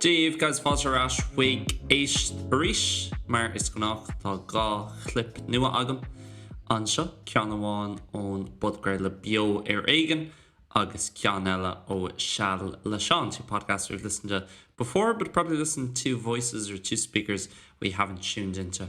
Dia daoibh guys, fáilte ar ais chuig Éist Arís! Mar is gnách, tá dhá chlip nua agam anseo, ceann amháin ón bpodchraoladh Beo ar Éigean agus ceann eile ó Seal le Seán, two podcasts we've listened to before, but probably listen to two voices or two speakers we haven't tuned into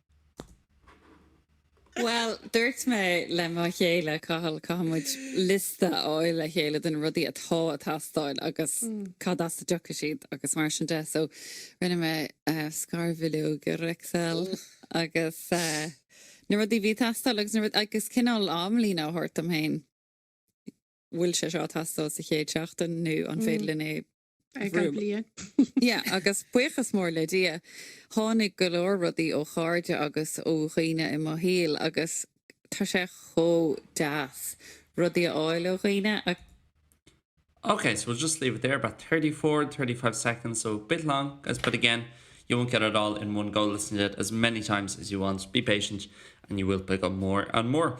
Bhuel, dúirt mé le mo chéile, Cathal, caithfidh muid liosta a fháil le chéile de na rudaí atá ag teastáil agus cad as a dtiocfaidh siad agus mar sin de. So, rinne mé scarbhileog ar Excel agus na rudaí a bhí ag teastáil agus, agus cineál amlíne a thabhairt dom féin, bhfuil sé seo ag teastáil sa chéad seachtain nó an féidir linn é Yeah, agus buíochas mór le Dia, tháinig go leor rudaí ó chairde agus ó dhaoine i mo shaol agus tá sé chomh deas rudaí a fháil ó dhaoine. Okay, so we'll just leave it there, about 34, 35 seconds, so a bit long, guys, but again, you won't get it all in one go, listen to it as many times as you want, be patient, and you will pick up more and more.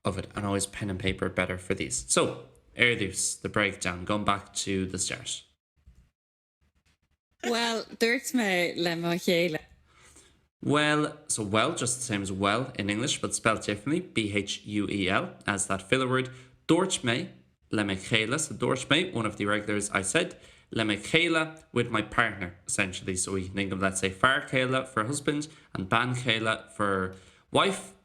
of it and always pen and paper better for these. So, ar dtús, the breakdown, going back to the start. Bhuel, dúirt mé le mo chéile. Bhuel, so well just the same as well in English but spelled differently, B-h-u-e-l, as that filler word. Dúirt mé le mo chéile, so dúirt mé, one of the irregulars, I said, le mo chéile, with my partner, essentially. So we can think of, let's say, fear céile for husband and bean chéile for wife.